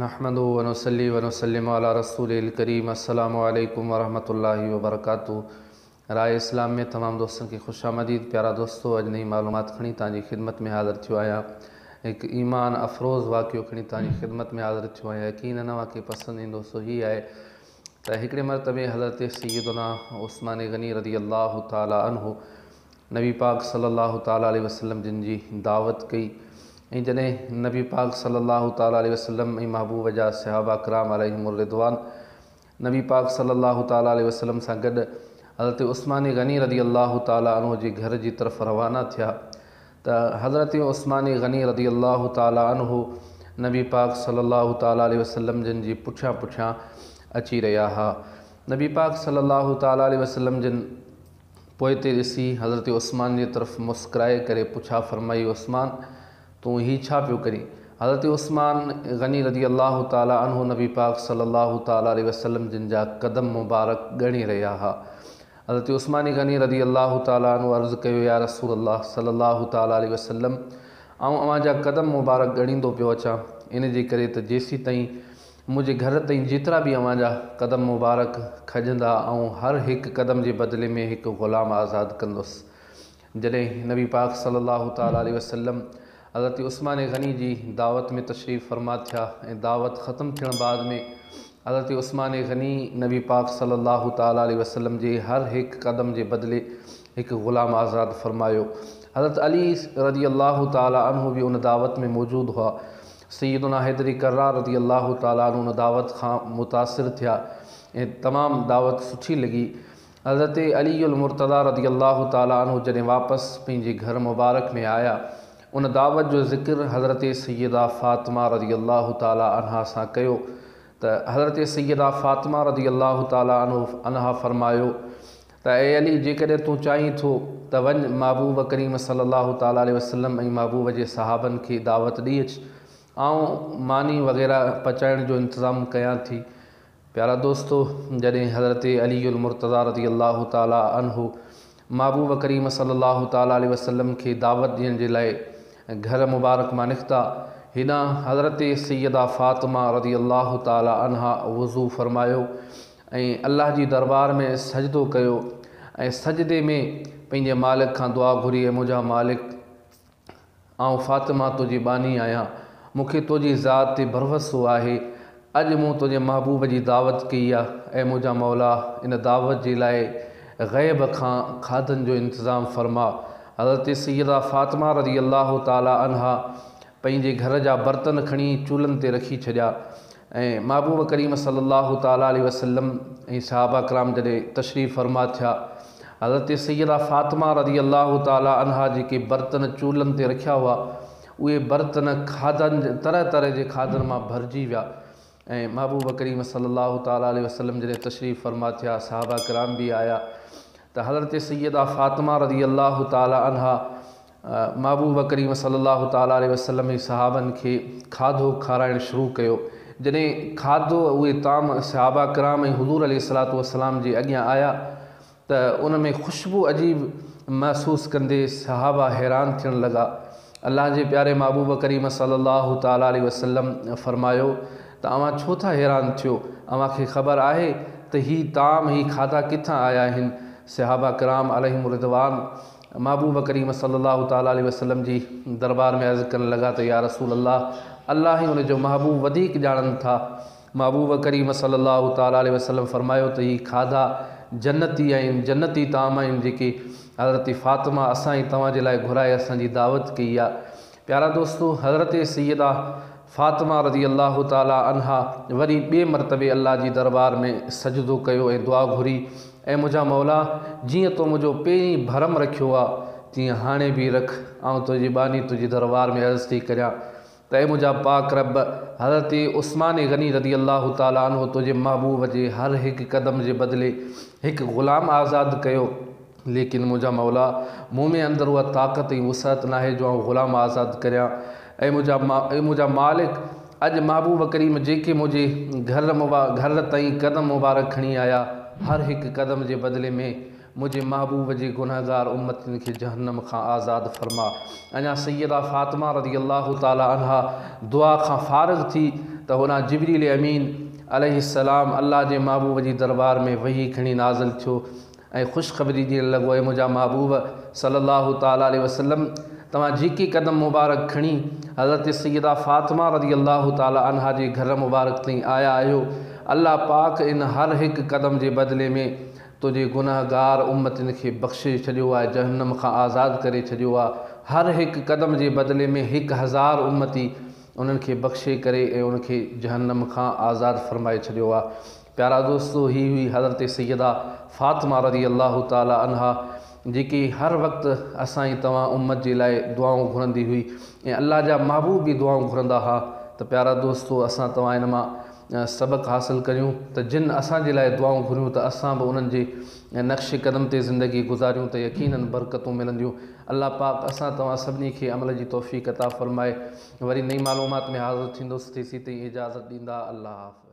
نحمده ونصلي ونسلم علي رسوله الڪريم السلام عليڪم ورحمة الله وبرڪاته راء اسلام ۾ تمام دوستن کي خوش آمديد پيارا دوستو اڄ نئين معلومات کڻي توهان جي خدمت ۾ حاضر ٿيو آهيان هڪ ايمان افروز واقعو کڻي توهان جي خدمت ۾ حاضر ٿيو آهيان يقينن اوهان کي پسند ايندو سو هي آهي ته هڪڙي مرتبه حضرت سيدنا عثمان غني رضي الله تعالٰي عنه نبي پاڪ صلّي اللّٰه تعالٰي عليه وسلّم جن جي دعوت ڪئي ۽ جڏهن نبي پاڪ صلّي اللّٰه تعالٰي عليه وسلّم ۽ محبوب جا صحابه ڪرام عليهم الرّضوان نبي پاڪ صلّي اللّٰه تعالٰي عليه وسلّم سان گڏ حضرت عثمان غني رضي اللّٰه تعالٰي عنه جي گهر جي طرف روانا ٿيا ته حضرت عثمان غني رضي اللّٰه تعالٰي عنه نبي پاڪ صلّي اللّٰه تعالٰي عليه وسلّم جن جي پٺيان پٺيان اچي رهيا ها نبي پاڪ صلّي اللّٰه تعالٰي عليه وسلّم جن پوئتي ڏسي حضرت عثمان جي طرف مسڪرائي ڪري پڇا فرمائي عثمان! تون هي ڇا پيو ڪرين؟ حضرت عثمان غني رضي الله تعالٰي عنه نبي پاڪ صلّي الله تعالٰي عليه وسلّم جن جا قدم مبارڪ ڳڻي رهيا ها. حضرت عثمان غني رضي الله تعالٰي عنه عرض ڪيو يا رسول الله صلّي الله تعالٰي عليه وسلّم! آئون اوهان جا قدم مبارڪ ڳڻيندو پيو اچان، ان جي ڪري ته جيسيتائين منهنجي گهر تائين جيترا به اوهان جا قدم مبارڪ کڄندا، آئون هر هڪ قدم جي بدلي ۾ هڪ غلام آزاد ڪندس. جڏهن نبي پاڪ صلّي اللّٰه تعالٰي عليه وسلّم حضرت عثمان غني جي دعوت ۾ تشريف فرما ٿيا ۽ دعوت ختم ٿيڻ بعد ۾ حضرت عثمان غني نبي پاڪ صلّي اللّٰه تعالٰي عليه وسلّم جي هر هڪ قدم جي بدلي هڪ غلام آزاد فرمايو. حضرت علي رضي الله تعالٰي عنه به ان دعوت ۾ موجود هئا. سيدنا حيدري ڪرار رضي الله تعالٰي عنه ان دعوت کان متاثر ٿيا ۽ تمام دعوت سٺي لڳي. حضرت علي المرتضيٰ رضي الله تعالٰي عنه جڏهن واپس پنهنجي گهر مبارڪ ۾ آيا، ان دعوت جو ذڪر حضرت سيده فاطمه رضي الله تعالٰي عنها سان ڪيو ته حضرت سيده فاطمه رضي الله تعالٰي عنها فرمايو، ته اي علي! جيڪڏهن تون چاهين ٿو ته وڃ محبوب ڪريم صلي الله تعالٰي عليه وسلم ۽ محبوب جي صحابن کي دعوت ڏئي اچ، آئون ماني وغيره پچائڻ جو انتظام ڪيان ٿي. پيارا دوستو! جڏهن حضرت علي المرتضٰي رضي الله تعالٰي عنه محبوب ڪريم صلي الله تعالٰي عليه وسلم کي دعوت ڏيڻ جي لاء گهر مبارڪ مان نڪتا، هيڏانهن حضرت سيده فاطمه رضي الله تعالٰي عنها وضو فرمايو ۽ الله جي دربار ۾ سجدو ڪيو ۽ سجدي ۾ پنهنجي مالڪ کان دعا گهري اي منهنجا مالڪ! آئون فاطمه تنهنجي ٻانهي آهيان، مون کي تنهنجي ذات تي ڀروسو آهي، اڄ مون تنهنجي محبوب جي دعوت ڪئي آ، اي منهنجا مولا! ان دعوت جي لاء غيب کان کاڌن جو انتظام فرما. حضرت سيده فاطمه رضي الله تعالٰي عنها پنهنجي گهر جا برتن کڻي چولهن تي رکي ڇڏيا ۽ محبوب ڪريم صلي الله تعالٰي عليه وسلم ۽ صحابه ڪرام جڏهن تشريف فرما ٿيا حضرت سيده فاطمه رضي الله تعالٰي عنها جيڪي برتن چولهن تي رکيا هئا اهي برتن کاڌن طرح طرح جي کاڌن مان ڀرجي ويا ۽ محبوب ڪريم صلي الله تعالٰي عليه وسلم جڏهن تشريف فرما ٿيا صحابه ڪرام به آيا ته حضرت سيده فاطمه رضي الله تعالٰي عنها محبوب ڪريم صلي الله تعالٰي عليه وسلم ۽ صحابن کي کاڌو کارائڻ شروع ڪيو. جڏهن کاڌو اهي طعام صحابه ڪرام ۽ حضور عليه الصلوة والسلام جي اڳيان آيا ته ان ۾ خوشبو عجيب محسوس ڪندي صحابه حيران ٿيڻ لڳا. الله جي پياري محبوب ڪريم صلي الله تعالٰي عليه وسلم فرمايو ته اوهان ڇو ٿا حيران ٿيو؟ اوهان کي خبر آهي ته هي طعام، هي کاڌا ڪٿان آيا آهن؟ صحابه ڪرام عليهم الرضوان محبوب ڪريم صلّي اللّٰه تعالٰي عليه وسلّم جي دربار ۾ عرض ڪرڻ لڳا ته يا رسول الله الله ۽ ان جو محبوب وڌيڪ ڄاڻن ٿا. محبوب ڪريم صلّي اللّٰه تعالٰي عليه وسلّم فرمايو ته هي کاڌا جنّتي آهن، جنّتي طعام آهن جيڪي حضرت فاطمه اسان ۽ توهان جي لاء گهرائي اسان جي دعوت ڪئي آ. پيارا دوستو! حضرت سيده فاطمه رضي الله تعالٰي عنها وري ٻئي مرتبي الله جي دربار ۾ سجدو ڪيو ۽ دعا گهري، اي منهنجا مولا! جيئن تو منهنجو پهرين ڀرم رکيو ها، تيئن هاڻي به رک. آئون تنهنجي ٻانهي تنهنجي دربار ۾ عرض ٿي ڪريان ته اي منهنجا پاڪ رب! حضرت عثمان غني رضي الله تعالٰي عنه تنهنجي محبوب جي هر هڪ قدم جي بدلي هڪ غلام آزاد ڪيو. ليڪن منهنجا مولا! مون ۾ اندر اها طاقت ۽ وسعت ناهي جو آئون غلام آزاد ڪريان. اي منهنجا اي منهنجا مالڪ! اڄ محبوب ڪريم جيڪي منهنجي گهر گهر تائين قدم مبارڪ کڻي آيا، هر هڪ قدم جي بدلي ۾ منهنجي محبوب جي گنهگار امتين کي جهنم کان آزاد فرما. اڃا سيده فاطمه رضي الله تعالٰي عنها دعا کان فارغ ٿي ته هوڏانهن جبريل امين عليه السلام الله جي محبوب جي دربار ۾ وحي کڻي نازل ٿيو ۽ خوشخبري ڏيڻ لڳو، اي منهنجا محبوب صلّي الله تعالٰي عليه وسلّم! توهان جيڪي قدم مبارڪ کڻي حضرت سيده فاطمه رضي الله تعالٰي عنها جي گهر مبارڪ تائين آيا آهيو، الله پاڪ ان هر هڪ قدم جي بدلي ۾ تنهنجي گنهگار امتين کي بخشي ڇڏيو آهي، جهنّم کان آزاد ڪري ڇڏيو آهي. هر هڪ قدم جي بدلي ۾ هڪ هزار امتي انهن کي بخشي ڪري ۽ ان کي جهنّم کان آزاد فرمائي ڇڏيو آهي. پيارا دوستو! هي هئي حضرت سيده فاطمه رضي الله تعالٰي عنها جيڪي هر وقت اسان ۽ توهان امت جي لاء دعائون گهرندي هئي ۽ الله جا محبوب به دعائون گهرندا ها ته پيارا دوستو اسان توهان ان مان سبق حاصل ڪريون ته جن اسان جي لاء دعائون گهريون ته اسان به انهن جي نقش قدم تي زندگي گذاريون ته يقينن برڪتون ملنديون الله پاڪ اسان توهان سڀني کي عمل جي توفيق عطا فرمائي وري نئين معلومات ۾ حاضر ٿيندس تيسين تائين اجازت ڏيندا الله حافظ.